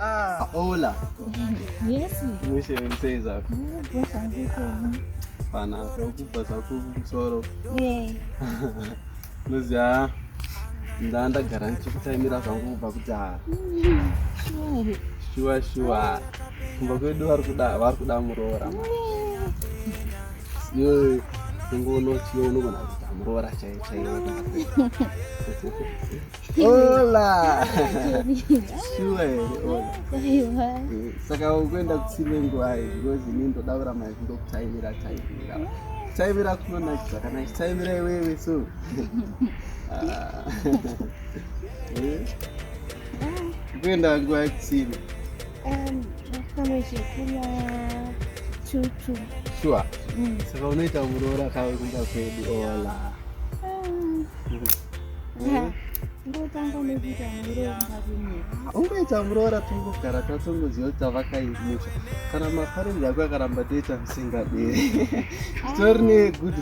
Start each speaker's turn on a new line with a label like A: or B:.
A: Ah. ah hola.
B: Yes. Mwisho
A: mseza. Pana kukupa sakuku msoro. Eh. Muzia. Nda ndagara ndichikutaimira zvangu kubva kudhara. Sure. Sure sure. Kumba kwedu vari kuda vari kuda muroora. Yo. Kungono tiyo unogona kuita muroora chaiye chaiye. Hola. Sure. Aiwa.
B: Saka
A: ukuenda kusime ngwai because ini ndoda kuramba ndokutaimira taimira. Taimira kunonakisa kana taimira iwewe so. Ah. Eh? Kuenda ngwai kusime.
B: Um, pamwe zvekuya chuchu. Sure.
A: Mm. Saka unoita muroora kawe kumba kwedu ola. Um, yeah. ndotanga
B: nekuita muroora ungaita muroora
A: tongogara tatongoziva kuti tavakaimusha kana maparenzi ako akaramba toita musingaderi titori negood